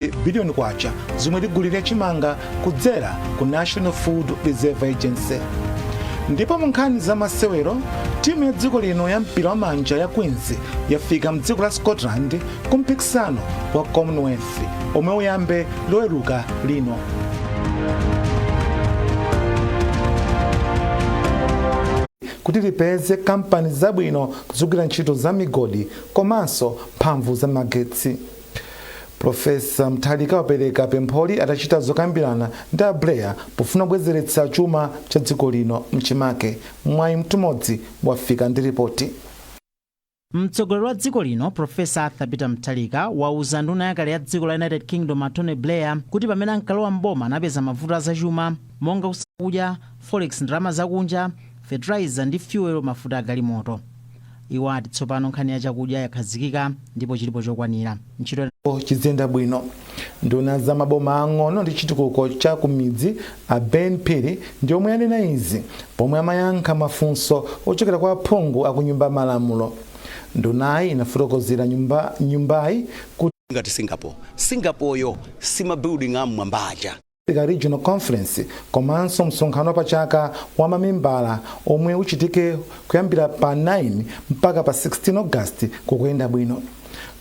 100 billion kwacha zomwe ligulire chimanga kudzera ku National Food Reserve Agency. Ndipo mu nkhani za masewero, timu ya dziko lino ya mpira wa manja ya Queens yafika mdziko la Scotland ku mpikisano wa Commonwealth omwe uyambe loweruka lino. kuti lipeze kampani zabwino kudzagwira ntchito za migodi komanso mphamvu za magetsi Profesa Mutharika wapereka pempholi atachita zokambirana ndi a Blair pofuna kubwezeretsa chuma cha dziko lino mchimake. Mwayi Mtumodzi wafika ndi ripoti. Mtsogoleri wa dziko lino Professor Arthur Peter Mutharika wauza nduna yakale ya dziko la United Kingdom a Tony Blair kuti pamene ankalowa m'boma anapeza mavuto a zachuma monga food chakudya, forex ndalama zakunja, fertilizer ndi fuel mafuta a galimoto. Iwo ati tsopano nkhani ya chakudya yakhazikika ndipo chilipo chokwanira. Ntchito. chiziyenda bwino. Nduna ya za maboma aang'ono ndi chitukuko cha ku midzi a Ben Phiri ndi omwe anena izi pomwe amayankha mafunso ochokera kwa aphungu a ku Nyumba ya Malamulo. Ndunayi inafotokozera nyumbayi kuti. ngati Singapore. Singapore-yo si ma building a mmwamba aja. Africa Regional Conference komanso msonkhano wapachaka wa mamembala omwe uchitike kuyambira pa 9 mpaka pa 16 August kukuyenda bwino.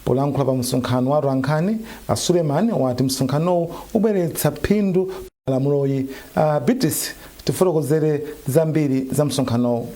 Polankhula pa msonkhano wa atolankhani, a Suleman wati msonkhanowu ubweretsa phindu malamuloyi. A Beatrice tifotokozere zambiri za msonkhanowu.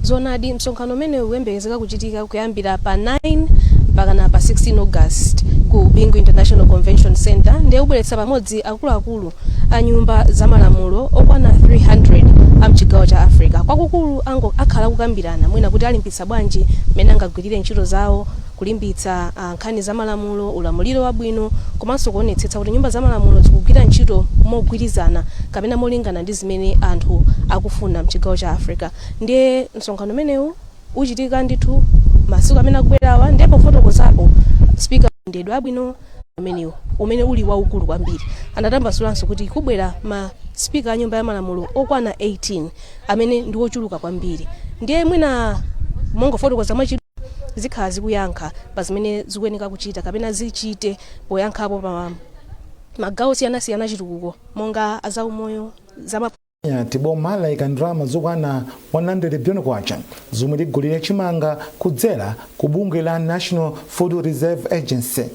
zoonadi msonkhano umenewu uyembekezeka kuchitika kuyambira pa 9 mpakana pa 16 august ku bingu international convention center ndiye ubweretsa pamodzi akuluakulu a nyumba za malamulo okwana 300 a mchigawo cha africa kwakukulu akhala akukambirana mwina kuti alimbitsa bwanji mmene angagwirire ntchito zawo kulimbitsa nkhani za malamulo, ulamuliro wabwino komanso kuonetsetsa kuti nyumba za malamulo zikugwira ntchito mogwirizana kapena molingana ndi zimene anthu akufuna mchigawo cha Africa. Ndiye msonkhano umenewu uchitika ndithu masiku amene akubwerawa ndiye pofotokozapo speaker mayendedwe abwino umenewu umene uli waukulu kwambiri. Anatambasulanso kuti kubwera ma speaker a nyumba ya malamulo okwana 18. amene ndi ochuluka kwambiri ndiye mwina mongofotokoza mwachidule zikhala zikuyankha pa zimene zikuyeneka kuchita kapena zichite poyankhapo pa magawo osiyanasiyana a chitukuko monga azaumoyo zama ati boma laika ndalama zokwana 100 billion kwacha zomwe ligulire chimanga kudzera ku bungwe la national food reserve agency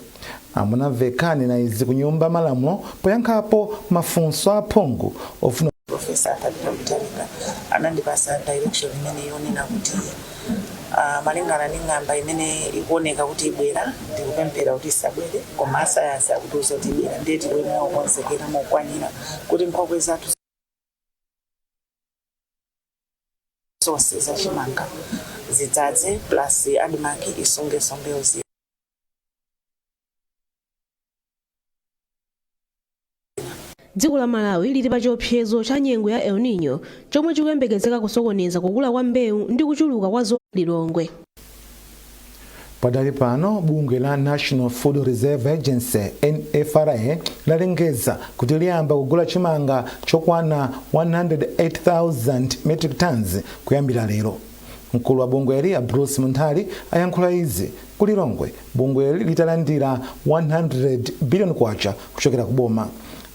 A Mwanamvekha anena izi ku nyumba malamulo poyankhapo mafunso aphungu ofuna Professor Arthur Peter Mutharika anandipasa direction imene yonena kuti ah, malingana ndi ng'amba imene ikuoneka kuti ibwera ndikupemphera kuti isabwere koma asayansi akutiuza kuti ibwera ndiye tikuyenera kukonzekera mokwanira kuti nkhokwe zathu zonse za chimanga zidzadze plus admarc isungenso mbewu zina dziko la malawi lili pa chiopsezo cha nyengo ya el nino chomwe chikuyembekezeka kusokoneza kukula kwa mbewu ndi kuchuluka kwa zo lilongwe Padali pano bungwe la National Food Reserve Agency, NFRA, lalengeza kuti liyamba kugula chimanga chokwana 108,000 metric tons kuyambira lero. Mkulu wa bungweli a Bruce Munthali ayankhula izi ku Lilongwe bungweli litalandira 100 billion kwacha kuchokera ku boma.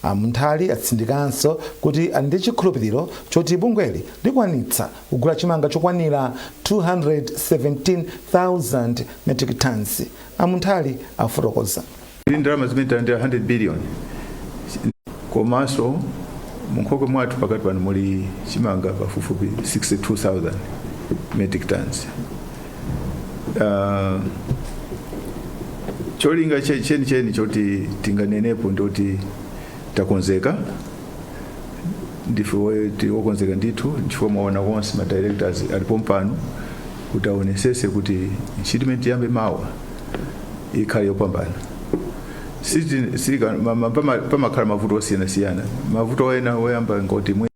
A Munthali atsindikanso kuti ali ndi chikhulupiriro choti bungweli likwanitsa kugula chimanga chokwanira 217,000 metric tons, a Munthali akufotokoza. Ndi ndalama zimene talandira 100 billion komanso munkhokwe mwathu pakati pano muli chimanga pafupifupi 62,000 metric tons. Uh, cholinga chenicheni choti tinganenepo ndoti takonzeka ndife we- tili okonzeka ndithu chifukwa mwaona konse ma directors ali pompano kuti aonesese kuti ntchito imene tiyambe mawa ikhale yopambana Siti- sika- ma- ma- pama- pamakhala mavuto osiyanasiyana mavuto ena oyamba ngoti mwe-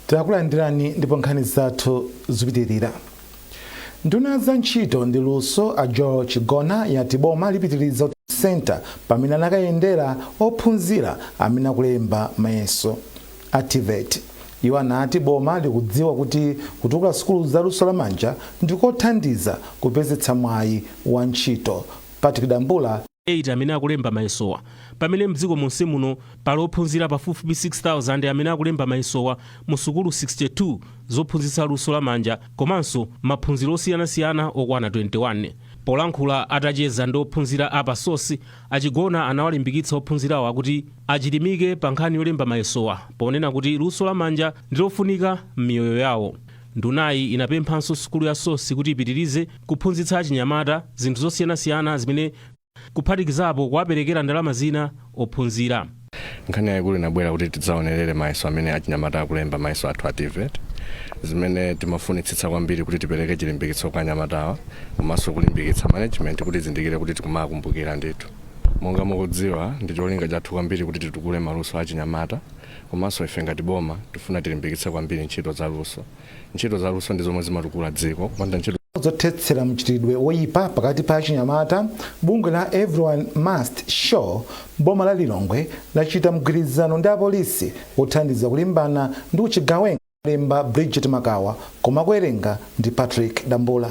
takulandirani ndipo nkhani zathu zikupitirira nduna za ntchito ndi luso a joel chigona yati boma lipitiriza senta pamene anakayendera ophunzira amene akulemba mayeso a tevet iwo anati boma likudziwa kuti kutukula sukulu za luso lamanja ndikothandiza kupezetsa mwayi wa ntchito patrick dambula 8 amene akulemba mayesowa. Pamene mdziko monsemuno pali ophunzira pafupifupi 6,000 amene akulemba mayesowa mu sukulu 62 zophunzitsa luso la manja komanso maphunziro osiyanasiyana okwana 21. Polankhula atacheza ndi ophunzira a pa sos, a Chigona anawalimbikitsa ophunzirawa kuti achilimike pa nkhani yolemba mayesowa ponena kuti luso la manja ndi lofunika m'miyoyo yawo. Ndunayi inapemphanso sukulu ya SOS kuti ipitirize kuphunzitsa achinyamata zinthu zosiyanasiyana zimene kuphatikizapo kuwaperekera ndalama zina ophunzira. Nkhani yaikulu inabwera kuti tidzaonerere mayeso amene achinyamata akulemba, mayeso athu a TVET. Zimene timafunitsitsa kwambiri kuti tipereke chilimbikitso kwa anyamatawa komanso kulimbikitsa management kuti izindikire kuti tikumawakumbukira ndithu. Monga mukudziwa, ndi cholinga chathu kwambiri kuti titukule maluso a achinyamata. Komanso ife ngati boma tifuna tilimbikitse kwambiri ntchito za luso. Ntchito za luso ndi zomwe zimatukula dziko. Kupanda ntchito. zothetsera mchitidwe woyipa pakati pa achinyamata, bungwe la Everyone Must Show m'boma la Lilongwe lachita mgwirizano ndi apolisi wothandiza kulimbana ndi uchigawenga. Walemba Bridget Makawa koma akuwerenga ndi Patrick Dambula.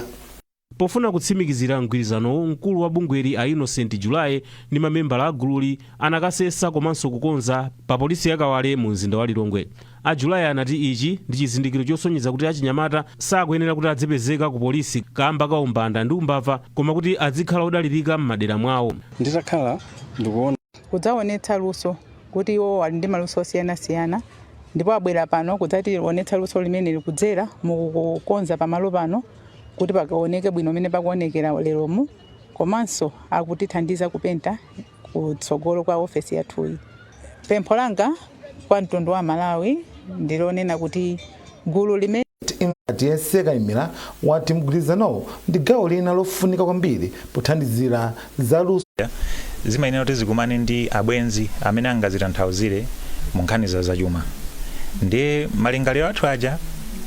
Pofuna kutsimikizira mgwirizanowu, mkulu wa bungweli a Innocent July ndi mamembala a gululi anakasesa komanso kukonza pa polisi ya Kawale mu mzinda wa Lilongwe. A July anati ichi ndi chizindikiro chosonyeza kuti achinyamata sakuyenera kuti adzipezeka ku polisi kaamba ka umbanda ndi umbava koma kuti adzikhala odalirika m'madera mwawo. Nditakhala ndikuona. kudzaonetsa luso kuti iwo ali ndi maluso osiyanasiyana ndipo abwera pano kudzationetsa luso limeneli kudzera mukukonza pamalo pano. kuti pakuoneke bwino mmene pakuonekera leromu komanso akutithandiza kupenta kutsogolo kwa ofesi yathuyi. Pempho langa kwa mtundu wa Amalawi ndilonena kuti gulu limene Tiyese Kaimira wati mgwirizanowu ndi gawo lina lofunika kwambiri pothandizira zaluso. zimayenera kuti zikumane ndi abwenzi amene angazitanthauzire mu nkhani za zachuma ndiye malingaliro athu aja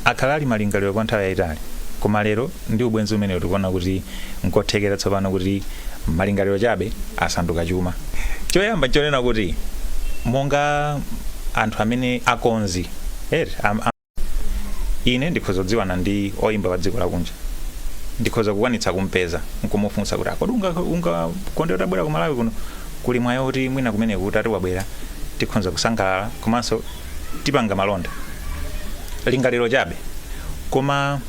akhala ali malingaliro kwa nthawi yayitali koma lero ndi ubwenzi umenewu tikuona kuti nkothekera tsopano kuti malingaliro chabe asanduka chuma choyamba chonena kuti monga anthu amene akonzi eti, am- am- ine ndikhoza kudziwana ndi oyimba wa dziko lakunja ndikhoza kukwanitsa kumpeza nkumufunsa kuti a kodi ungakonde utabwera ku malawi kuno kuli mwayi woti mwina kumeneko kuti atiwabwera tikhoza kusangalala komanso tipanga malonda lingaliro chabe koma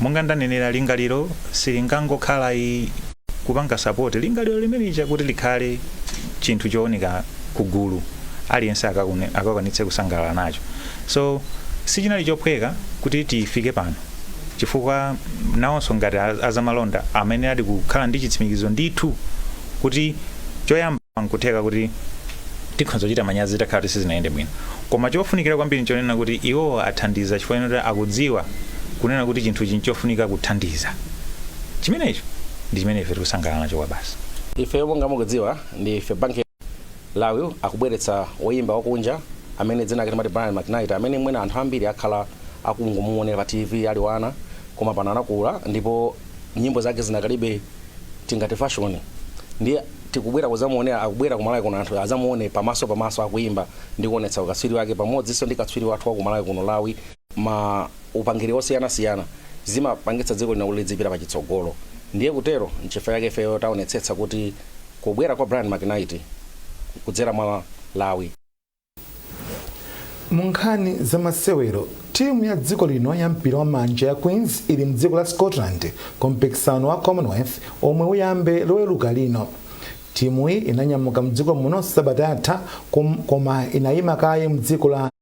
monga ndanenera lingaliro silingangokhala i- kupanga support lingaliro limenelija kuti likhale chinthu chooneka kugulu aliyense akakune- akakwanitse kusangalala nacho so sichinali chophweka kuti tifike pano chifukwa nawonso ngati a- azamalonda amene ali kukhala ndi chitsimikizo ndithu kuti choyamba nkutheka kuti tikhoza kuchita manyazi itakhala kuti sizinayende bwino koma chofunikira kwambiri nchonena kuti iwo athandiza chifukwa choti akudziwa kunena kuti chinthu ichi nchofunika kuthandiza Chimenecho ndi chimene ife tikusangalala nacho kwabasi. Ifeyo monga mukudziwa ndi ife bank Lawi akubweretsa woyimba wakunja amene dzina lake timati Brian McKnight amene mwina anthu ambiri akhala akungomuonera pa TV ali wana koma pano anakula ndipo nyimbo zake zidakalibe tingati fashion ndiye tikubwera kudzamuonera akubwera ku Malawi kuno anthu adzamuone pamaso pamaso akuyimba ndi kuonetsa ukatswiri wake pamodzinso ndi katswiri wathu wa ku Malawi kuno Lawi ma upangiri osiyanasiyana zimapangitsa dziko lino kuti lidzipita pa chitsogolo ndiye kutero nchifukwa chake ifeyo taonetsetsa kuti kubwera kwa brian mcknight kudzera mwa lawi mu nkhani za masewero timu ya dziko lino ya mpira wa manja ya queens ili mdziko la scotland ku mpikisano wa commonwealth omwe uyambe loweruka lino timuyi inanyamuka mdziko muno sabata yatha kom- koma inayima kaye mdziko la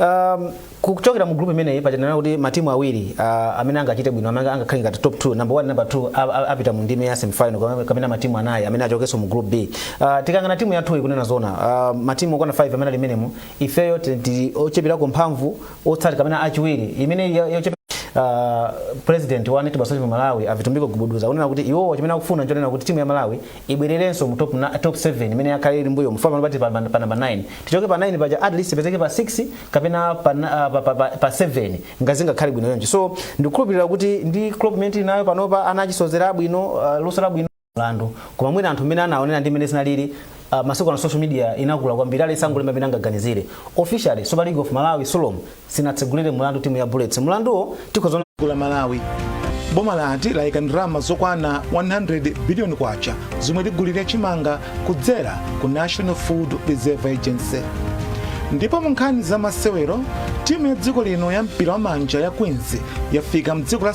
Um, kuchokera mu group imeneyi ponena kuti matimu awiri uh, amene angachite bwino amene angakhale ngati top 2 number 1 number 2 a- a- apita mu ndime ya semifinal kapena- kapena matimu anayi amene achokenso mu group B uh, tikayang'ana timu yathu kunena zona uh, matimu okwana 5 amene ali menemo ifeyo ti- ti- ochepirako mphamvu otsati kapena achiwiri imene yo- yochepe Uh, president wa netball association malawi a vitumbiko gubuduza kunena kuti iwowo chimene akufuna nchonena kuti timu ya malawi ibwererenso mu top, na- top 7 imene yakhala ili mbuyomu pano tili pa, pa, pa number 9 tichoke pa 9 paja at least ipezeke pa 6 kapena pa, na- ah, pa, pa, pa, pa 7 ndiye zingakhale bwino so ndikukhulupirira kuti ndi club imene tili nayo panopa ana achisozera abwino uh, luso labwino mlandu koma mwina anthu amene anaonera ndi mmene zinalili uh, masiku ano social media inakula kwambiri aliyense angolemba mmene angaganizire officially super league of malawi sulom sinatsegulire mulandu timu ya Bullets. Mulanduwo tikhoza la Malawi. Boma lati layika ndrama zokwana 100 billion kwacha zomwe ligulire chimanga kudzera ku National Food Reserve Agency. Ndipo mu nkhani za masewero, timu ya dziko lino ya mpira wa manja ya Queens yafika mdziko la